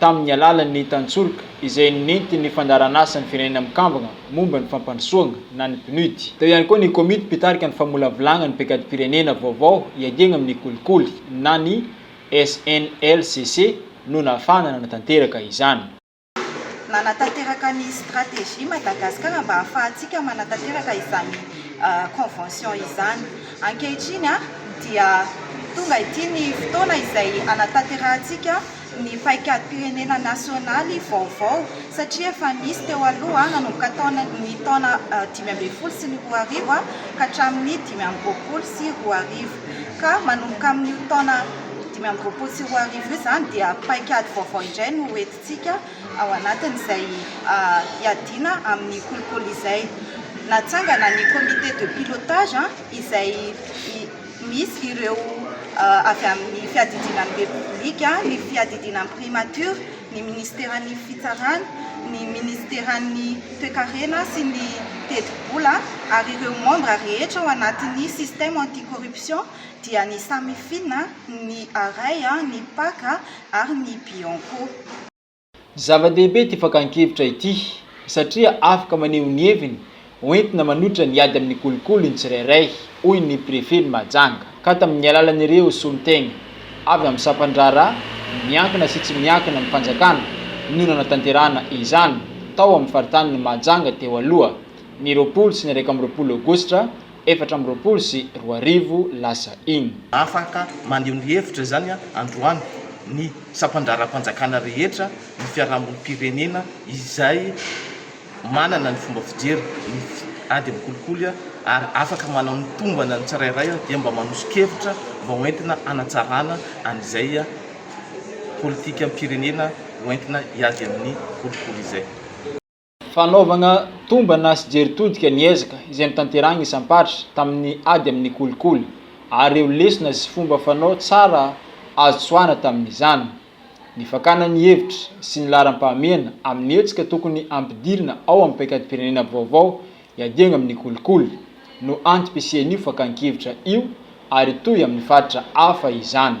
tamin'ny alalan'ny tantsoroka izay nentin'ny Fandaharanasan'ny Firenena Mikambana momba ny Fampandrosoana na ny PNUD. Teo ihany koa ny Komity Mpitarika ny Famolavolagna ny Paikadimpirenena vaovao hiadiagna amin'ny kolikoly na ny SNLCC no nafahana nanatanteraka izany. Nanatanteraka ny Stratégie Madagascar mba hahafahantsika manatanteraka izany Convention izany. Ankehitriny dia tonga ity ny fotoana izay hanatanterahantsika ny paikadimpirenena nasionaly vaovao satria efa nisy teo aloha nanomboka ny taona dimy ambin'ny folo sy ny roa arivo ka hatramin'ny dimy amby roapolo sy roa arivo ka manomboka amin'io taona dimy amby roapolo sy roa arivo io izany dia paikady vaovao indray no hoentintsika ao anatin'izay hiadiana amin'ny kolikoly izay. Natsangana ny comité de pilotage izay Misy ireo avy amin'ny fiadidiana ny Repoblika, ny fiadidiana ny Primature, ny minisiteran'ny Fitsarana, ny minisiteran'ny Toekarena sy ny Tetibola ary ireo membres rehetra ao anatin'ny système anti-corruption dia ny Samifin, ny Arai, ny Pac ary ny Bianco. Zava-dehibe ity fakan-kevitra ity satria afaka maneho ny heviny ho entina manohitra ny ady amin'ny kolikoly ny tsirairay, hoy ny Prefen'i Mahajanga, ka tamin'ny alalan'ireo solontena avy amin'ny sampan-draharaha miankina sy tsy miankina amin'ny fanjakana no nanatanterahana izany tao amin'ny faritanin'i Mahajanga teo aloha, ny roapolo sy ny iraika amby roapolo Aogositra efatra amby roapolo sy roa arivo lasa iny. Afaka maneho ny hevitra izany androany ny sampan-draharaham-panjakana rehetra, ny fiarahamonim-pirenena izay manana ny fomba fijery ny ady amin'ny kolikoly ary afaka manao ny tombana ny tsirairay dia mba manoso-kevitra mba ho entina hanatsarana an'izay politikam-pirenena ho entina hiady amin'ny kolikoly izay. Fanaovana tombana sy jery todika ny ezaka izay notanterahin'ny isam-paritra tamin'ny ady amin'ny kolikoly ary ireo lesona sy fomba fanao tsara azo tsoahina tamin'izany. Ny fakana ny hevitra sy ny laharam-pahamehana amin'ny hetsika tokony hampidirina ao amin'ny paikadimpirenena vaovao hiadiana amin'ny kolikoly no antom-pisian'io fakan-kevitra io ary hitohy amin'ny faritra hafa izany.